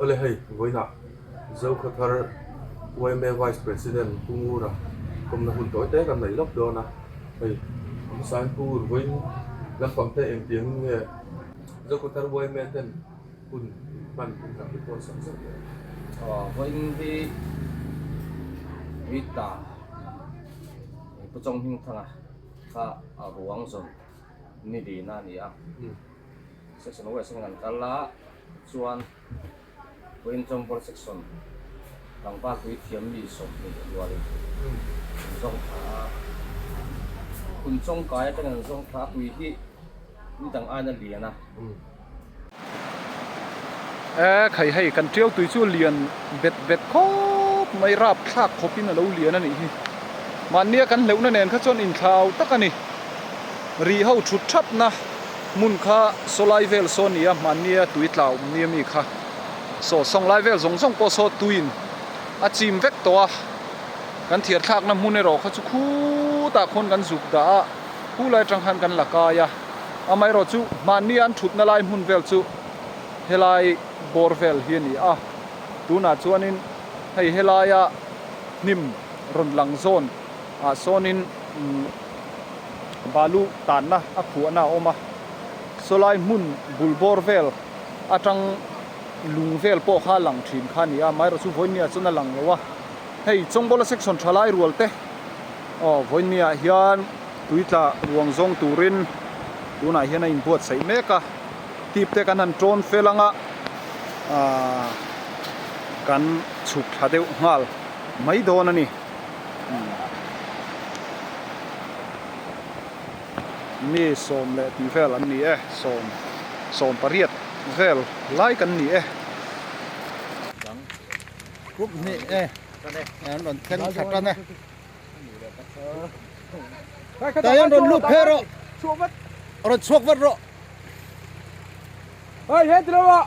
Awle hei vawiinah Zo Khawthar yma Vice President Pu Ngura kawmna hun tawi te kan neih lawk dawn a, hei Hmangsain Pu Ngur vawiin lampang te engtiangin nge Zo Khawthar yma ten hun hman pum tak te pawh a sam zeuh leh? Vawiin hi Rita Pu Chawng Hmingthanga kha a ruang zawn ni lina a ni a, Section a waisin in an kal a, chuan puiin Chawngpawrh section tlangval puithiam mi sawmhnih rualin an zawng thla a. Khum chawngkai atang in an zawng thla a, pui hi ni dang aina lian a. E khai hei, kan tial tui chu lian bet bet khawp mai rap thlak khawpin a lo lian a nih hi. Mahnia kan hleuhna nen kha chuan inthlau tak a ni, ri ho thut thapna. hmun kha saw lai vel saw nia hmahni a tui tla awm nia mi kha saw sawng lai vel zawng zawng pawh saw tuiin a chim vek tawh a kan thiar thlakna hmun erawh kha chu khutah khawn kan zuk dah a khulai atang khan kan la kai a amaherawh chu hmahni an thutna lai hmun vel chu helai bawr vel hi a ni a tunah chuanin hei helaia hnim rawn lang zawn ah sawnin balu tanna a khuahna a awm a, sawlai hmun bul bawr vel atang lung vel pawh kha lang thin kha ni a, maira chu vawinia chuan a lang lo a, hei Chawngbawl a section thalai rual te aw vawinia hian tui tla ruang zawng turin tunah hian a inbuatsaih mek a, tip te kan han tawn fel anga aah kan chhuk thla deuh nghal mai dawn a ni. mi sawm leh ti vel an ni e sawm sawm pariat vel lai kan ni e dang khup ni e an rawn thleng tha ta na ta hian rawn lut phe rawh rawn chhuak vat rawh hai he ti lo ah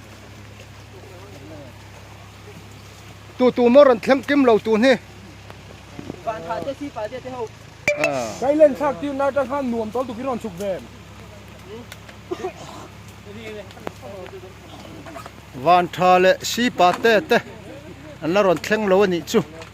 tu tu maw rawn thleng kim lo tu hi Thailand thlak tir na ta khan nuam tawltuk hi rawn chhuk ve em Vantha leh Sipa te te an la rawn thleng lo a nih chu.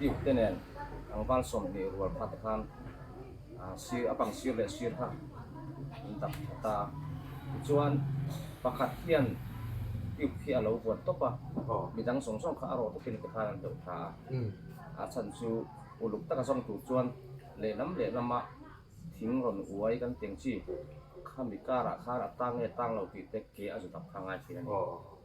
Duke te nen tlangval sawm hnih rual kha te khan sir a bang sir leh sir kha an dak tha ta a, tichuan pakhat hian Duke khi a lo vuan tawp a, midang zawng zawng kha a rawh takin te khan an hloh tha a, a chhan chu uluk taka zawng tur chuan lehlam lehlam a thing rawn uai kan tih ang chi, khami karah khan a tang nge tang lo tih te ke a zu tak kha a ngaithei a ni.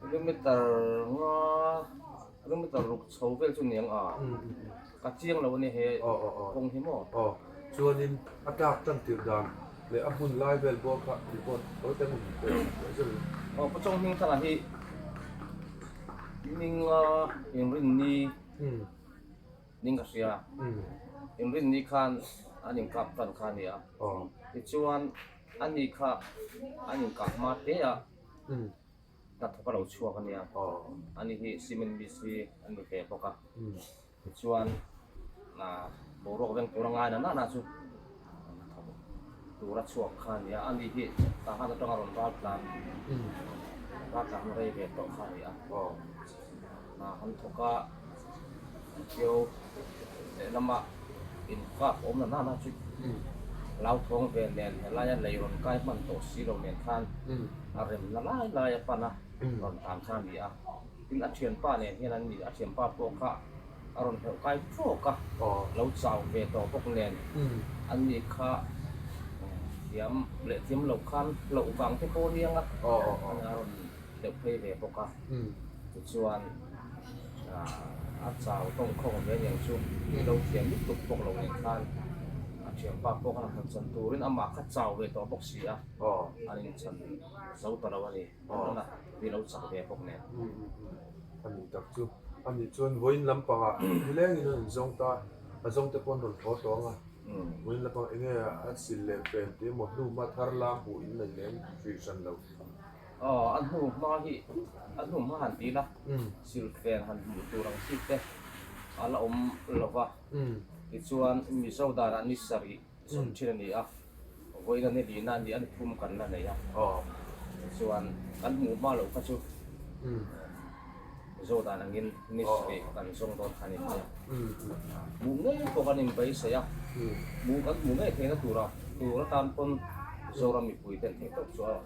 Kilometer nga kilometer ruk chho vel chu ni ang a, ka chiang lo a ni he kawng hi maw? Aw, chuanin a tlak tan tirh dan leh a hun lai vel pawh kha report khawi tan in pe leh zun. Aw, ka chawng hming thlangah hi Minga Inrinni ning ka hria, Inrinni khan an inkap tan kha a ni a, tichuan ani kha an inkap hma te a. Hnathawk a lo chhuak a nia. Ani hi cement mix hi an ni hle bawk a. Tichuan boruak veng tura ngai na nana chu hnathawk tura chhuak kha a nia. Ani hi tah khan atanga rawn ral tlan, ral tlan rei ve tawh kha a ni a. Hna han thawk a, an hrio lehlamah infak awm lo nana chu lau thawng ve nen he laia lei rawn kai hman tawh si lo nen khan a remna lai lai a pan a rawn tan kha a ni a, tin a thianpa nen hian an ni a thianpa pawh kha a rawn hlauh kai trawk a, lo chau ve tawh bawk nen an ni kha thiam leh thiam lo khan hlauh vang te pawh a niang a, a rawn Hleih phei ve bawk a, tichuan a chau tawngkhawng ve nen chu i lo thiam dik tuk bawk lo nen khan a thianpa pawh khan a han chan turin amah kha chau ve tawh bawk si a, an inchan zo ta lo a ni, nana i lo chak ve bawk nen. A ni tak chu, ani chuan vawiin lampanga nilengin a rawn zawng ta, a zawng te pawh an rawn thaw tawng a, vawiin lampang enge a sil lem pen tih emaw hnuma thar lam hmuh in a inlem hrih hran lo. A hnu hma hi a hnu hma han tiin a, siltlen han hmuh tur ang chi te a la awm lo va, tichuan Mizo danah ni sarih sawm thin a ni a, vawiina ni lihna a nih a, ni phum kan la nei a, tichuan kan hmuh hma loh kha chu Mizo dan angin ni sarih kan zawng dawn kha a ni mai a, hmuh ngei pawh kan inbeihsaih a, hmuh kan hmuh ngei theihna tur a, tur atan pawn Mizoram mipuite'n theih tawp chu a awm.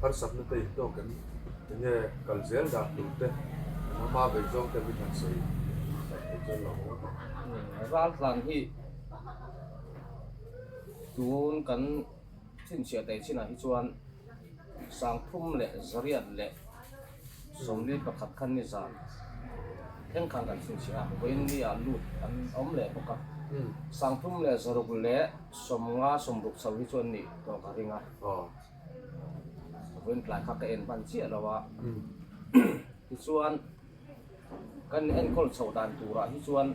Harsak nute intlawk em? Enge kal zel dan tur te an awm a, vei zawng te min han sawi sak thei chuan lo a ni. Ral tlan hi tun kan chhinchhiah tei chinah hi chuan sang thum leh zariat leh sawmli pakhat khan nizan thleng khan kan chhinchhiah a, vawiin mi ah lut an awm leh bawk a. Sang thum leh zaruk leh sawmnga sawmruk chho hi chuan nih tawh ka ring a. Vawin tlai kha ka en hman chiah lo a, tichuan kan enkawl chhoh dan turah hi chuan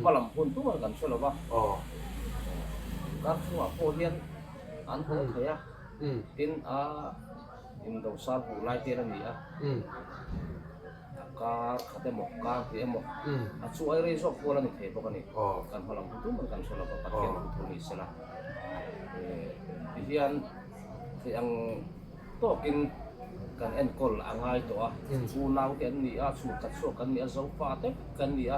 hmalam hun tunga kan hre lo va, Karchhungah pawh hian an hawng thei a, tin a indosal hmuh lai te an ni a. Kar khat emaw, kar tih emaw, a chu ai rei zawk kual a ni thei bawk a ni. Kan hma lam tum tum a ni kan hre lo, Pathian pu thawh a ni sela. Tihian hei ang tawkin kan enkawl a ngai tawh a, chu nau te an ni a, chu tat zawk kan ni a, Zofa te kan ni a.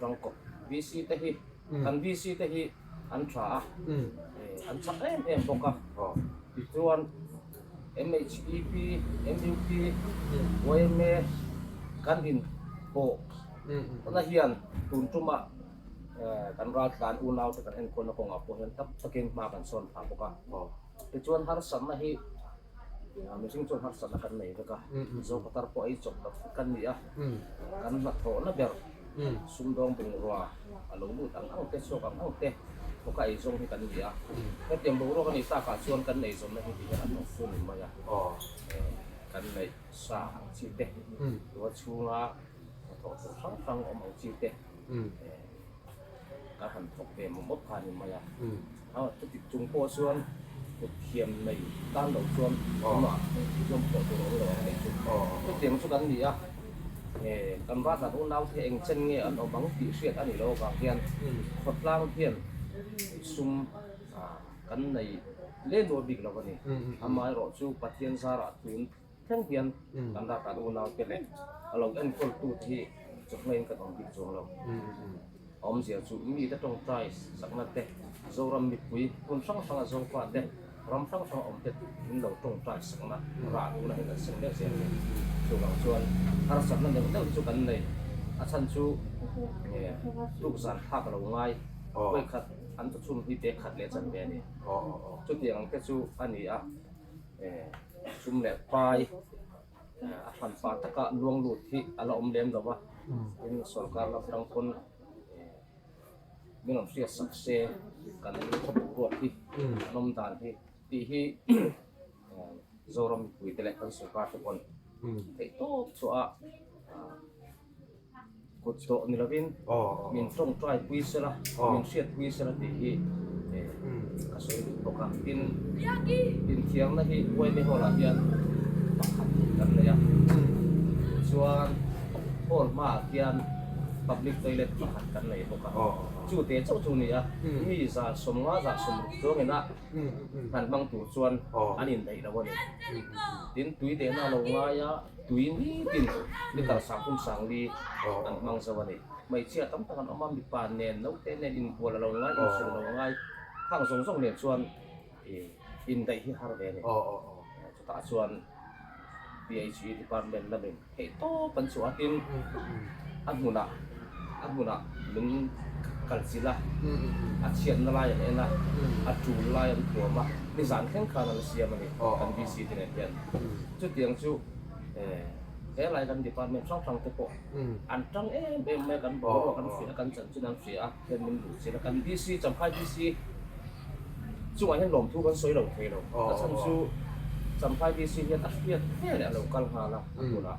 Tawngkaw VC te hi kan VC te hi an tha a, an chak em em bawk a, tichuan MEP, MUP, yma kan in pawh na hian tun tum ah kan ral tlan unau te kan enkawl na kawng ah pawh hian tak tak in hma kan sawn thla bawk a, tichuan harsatna hi. Aa, mihring chu harsatna kan nei vek a, Zopatar pawh ei chawp lo kan ni a, kan hnathawhna ber Sumdawng bungrua a lo lut ang angte, chhuak ang angte pawka ei zawng hi kan ni a, hetiang boruak a nih takah chuan kan nei zawmna hi ti hian an awm fun mai a, kan neih sa ang chi te, tua chhunga hnathawh tur hrang hrang awm ang chi te kan han thawk ve mawp mawp kha ni mai a. A thutik chung pawh chuan thutthiam nei tan loh chuan engmah thil zawm pawh tur a awm lo ang tih chu chutiang chu kan ni a, he kan ralhlan unau te eng chen nge an awm ang tih hriat a ni lo vang hian khawtlang hian sum kan nei leh lual bik lo a ni, amaherawhchu Pathian zarah tun. Thleng hian kan dah kan unaute leh a lo enkawl-tute hi chawhmaiin kan awm bik chuang lo. A awmzia chu mite tawngtai saknate, Zoram mipui, hun hrang hranga zopate, ram hrang hranga awmte in lo tawngtai sakna rah tun ahin kan seng mek zia a ni. Chuvang chuan harsatna neuh neuh chu kan nei. A chhan chu tukzan thlak lo ngai puai khat an thu chhum hi pek khat leh chan mai a ni. Chutiang ang te chu a ni a. Chum leh pai a hran fa taka luang lut hi a la awm lem lo va, tin sorkar lam atang pawn min rawn hriat sak se kan khawpui ruak hi an awm dan hi tih hi Zoram mipuite leh kan sorkar te pawh an theih tawp chhuah a. Kut tawh ni lovin min tawng try pui sela, min hriat pui sela tih hi ka sawi lut bawk a. Tin, inthiarna hi Uaimi Hall ah hian pakhat kan nei a, chuan Hall hmaah khian public toilet pakhat kan nei bawk a. Chute chauh chu nia, mi zan sawm nga zan sawm ruk chuangin a hman hmang tur chuan an inneih lo a ni. Tin tui tehna a lo ngai a. Tui nitin mi kal sang pum sang li an hmang zo a ni. Hmeichhia tam tak an awm a, mipa nen, naute nen inkual a lo ngai, insual a lo ngai. Khang zawng zawng nen chuan indaih hi har ve a ni. Chutah chuan PHE department lamin theih tawp an chuah a tin a hmunah. a hmunah min kal chilh a, a chhiatna lai an en a, a tul lai an thuam a, nizan thleng khan an siam a ni, kan DC te nen hian. Chutiang chu helai kan department hrang hrang te pawh an ṭang em em mai, kan boruak an hria, kan chanchin an hria a, heng min duh chilh a. Kan DC, Champhai DC chungah hian lawmthu kan sawi lo thei lo, ta chhan chu Champhai DC hian a hriat hle leh a lo kal nghal a, a hmunah.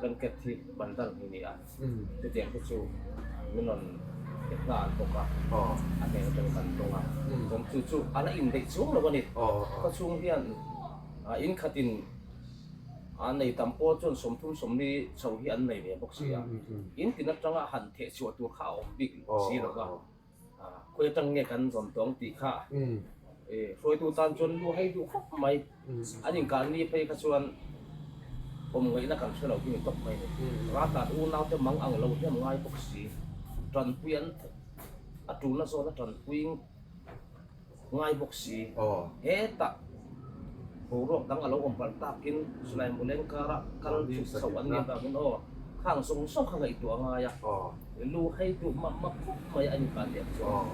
blanket hi ban dal hi ni a, chutiang te chu min rawn pek hna an bawk a, a hmel atang kan tawng a, chuan chu chu a la indaih chhung lo a ni, khaw chhung hian in khat in a nei tam pawh chuan sawmthum sawmli chho hi an nei leh bawk si a, in tin atanga han theh chhuah tur kha a awm bik si lo va. Khawi atang nge kan zawn tawng tih kha i hruaitu tan chuan lu hei duh khawp mai an inkar ni phei kha chuan awm ngaihna kan hre lo hi ni tawp mai a ni. Ral tan unaute mang ang lo hiam ngai bawk si. Tanpuiin a tulna zawn a tanpuiin. Ngai bawk si. Hetah boruak dang a lo awm palh takin Sulaimu leng kara kal chhuk chhoh an nih vangin aw khang zawng zawng kha ngaihtuah a ngai a, lu hei duh map map khawp mai a inkal leh chuan.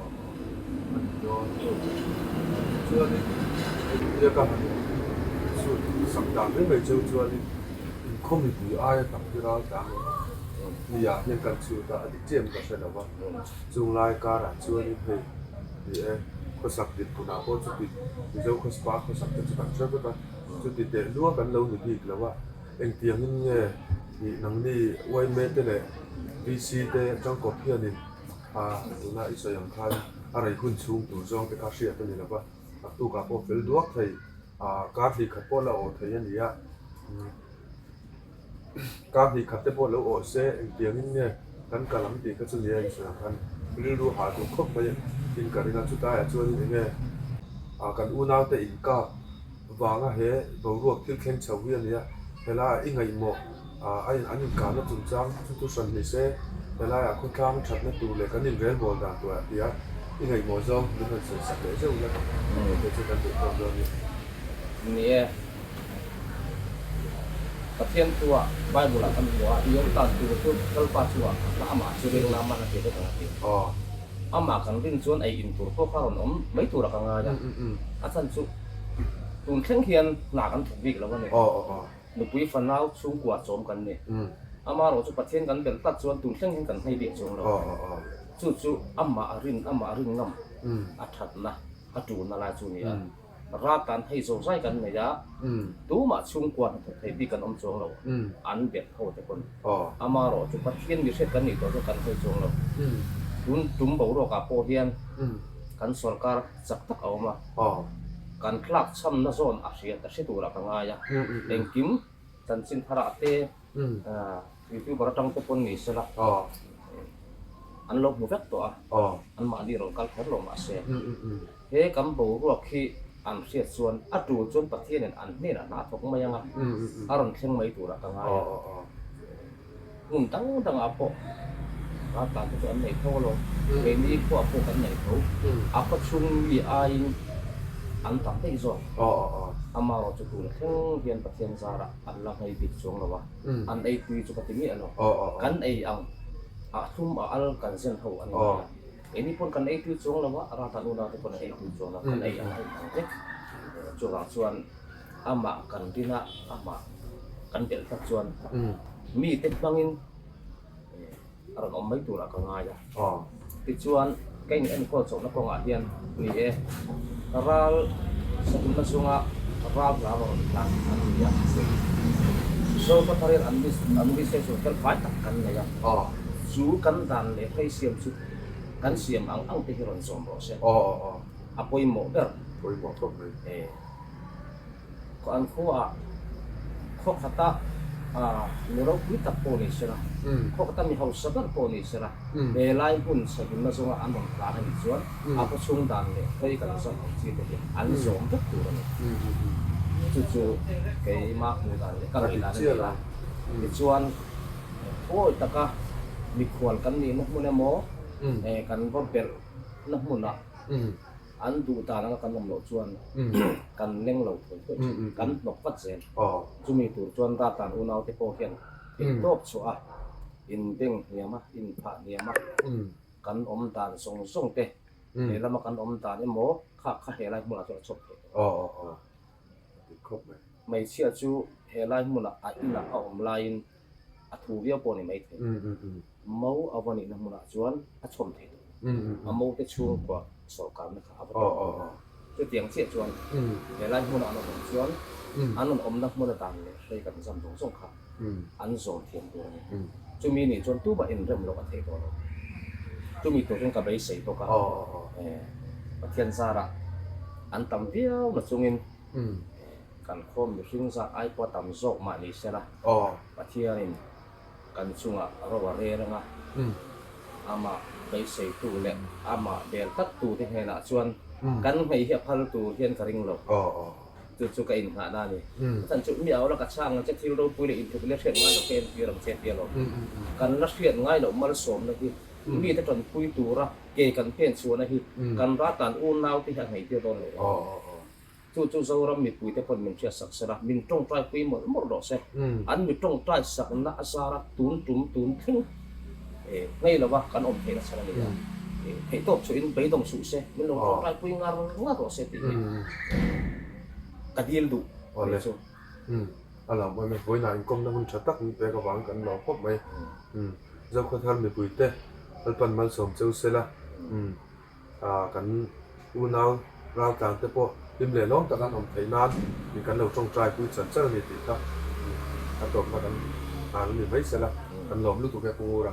Ni e, khawsak dik tunah pawh chuti Mizo khawspa khawsak te chu kan hre vek a, chuti teh luang kan lo ni bik lo a, engtiangin nge nih nangni Yme te leh VC te Changkawp hianin pha tuna i sawi ang khan a rei hun chhung tur zawng te kha hriat a ni lo va, taktukah pawh fel duak thei, kar hlikkhat pawh la aw thei a ni a. Ka hnih khat te pawh lo awh se, engtiangin nge kan kal ang tih ka chu nia insawi ang khan rilru ha tur khawp mai in ka ring a, chutaiah chuanin enge kan unaute inkap vanga he boruak thil thleng chho hi a nia, hela i ngaihmawh an inkarna chungchang chu chu hran hnih se, helaiah khawthlang thatna tur leh kan inrelbawl dan tur a tia i ngaihmawh zawng min rawn sawisak leh zeuh ila tih te chu kan duhdawn dawn a ni. Pathian thua Bible-ah kan hmu a, i awm tan tur chu Kalpa chungah ka hla amah chu reng lam a hla theih vek ang a ti. Amah kan ring chuan ei in tur pawh kha rawn awm mai tura ka ngai a. A chan chu, Tun thleng hian hna kan thawk bik lo a ni. Nupui fanau chhungkua chawm kan ni. Ama erawh chu Pathian kan belh tlat chuan tun thleng hian kan hmai bik chuang lo. Chu chu amah a rin, amah a rin ngam, a thatna, a tuna lai chu a ni a. Rat kan hei zo zai kan nei a, tumah chhungkua hnathawh thei bik kan awm chuang lo, an biak tho te pawn. Amarawh chu Pathian mihriat kan nih tawh chu kan hei chuang lo. Tun tum boruakah pawh hian kan sorkar chak tak a awm a, kan tlak chhamna zawn a hria ta hre turah ka ngai a, engkim chanchinthara te. Youtuber atang te pawn ni sela an lo hmu vek tawh a, an mahni rawn kal kher lo mah se, he kan boruak hi an hriat chuan a tu chuan Pathianin an hnenah hna thawk mai anga a rawn thleng mai turah ka ngai a, hmun dang dangah pawh hna tlan te chu an nei tho a lo, kei ni khuaa pawh kan nei tho, a khawchhung mi aiin an tam daih zawk, amaherawhchu tun thleng hian Pathian zarah an la hngaibik chuang lo a. an eitui chu ka ti miah lo. Kan ei ang a thlum a al kan zen ho a ni mai a. Keini pawn kan eitui chuang lo a, Rata nuna te pawn an eitui chuang lo a, kan ei ang a inang vek. Chuvang chuan amah kan din a, amah kan belh tak chuan mite hmangin. A rawn awm mai turah ka ngai a, tichuan ka inenkawl chauhna kawngah hian ni e, ral sahunna chunga ral hla a rawn rawn tlan an ni a, Zolpatharin an list an list hi chu fel fai tak kan nei a, chu kan dan leh phei siam chu kan siam ang ang te hi rawn zawm rawh se, a pawimawh ber. An khuaah khawkhata mi ropui tak pawh nei sela, khawkhata mi hausa ber pawh nei sela, he lai hmun chhavinna zawnga an rawn tlan a nih chuan a khaw chhung dan leh khawi kal zawh ang chi te hi an zawm vek tur a ni. Chu chu keimah hmuh dan leh ka ngaih dan a ni a. Tichuan pawi taka mikhual kan nihna hmun emaw kan va belhna hmunah, An duh dan anga kan awm loh chuan kan leng lo thei teuh thin, kan hnawk vat zel. Chumi tur chuan dartlan unaute pawh hian thil tawp chhuah a, inbeng hniam a, inphah hniam a, kan awm dan zawng zawng te, lehlam a kan awm dan emaw kha kha helai hmunah chuan a chhawp thei tawh. Hmeichhia chu helai hmunah a inah a awm laiin. a thu viau pawh a ni maithei. Mo a va nihna hmunah chuan a chhawm thei tawh lo. A mote chhungkua sawhkalna kha a va tawng tawh lo. Chutiang chiah chuan he lai hmuna an rawn awm chuan an rawn awmna hmuna dan leh hreikan zam zawng zawng kha an zawm thiam tur a ni. Chumi nih chuan tumah en rem loh a theih tawh lo. Chumi tur hian ka beisei bawk a, Pathian zarah an tam viau na chungin Kan khawm mihring zah ai pawh a tam zawk mah ni se la, Pathianin kan chungah a ro a rel ang a. Amah beiseitu leh amah bel taktute hnenah chuan kan hmei hi a phal tur hian ka ring lo. Chu chu ka innghahna a ni. A chhan chu, Miau la ka chhang ang che, thil ropui leh intluk leh hriat ngai lo kha entir ang che pialo. Kan la hriat ngai loh malsawmna hi mite tawnpui tura ke kan phenchhuahna hi kan ra tan unaute hi a ngeitir dawn lo ang. Chu chu Zoram mipui te pawn min hriat sak sela, min tawngtai pui mawlh mawlh rawh se. An mi tawngtai sakna a zara tun tum tun thleng ngei lova kan awm theih nasat a ni a. Theihtawp chuhin beidawng suh se, min lo tawngtai pui ngar ngar rawh se tih hi ka dil duh ni chu. A lam a, Mitbuainah inkawmna hun tha tak min pek avang kan lo khawp mai. Zokhawthar mipui te kalpan malsawm cheu sela, Kan unau raltlang te pawh hlim leh lawm tak an awm theih nan mi kan lo tawngtai pui char char a ni tih kha a tuamna kan hlan a ni mai sela kan lawm lutuk e Pungur a.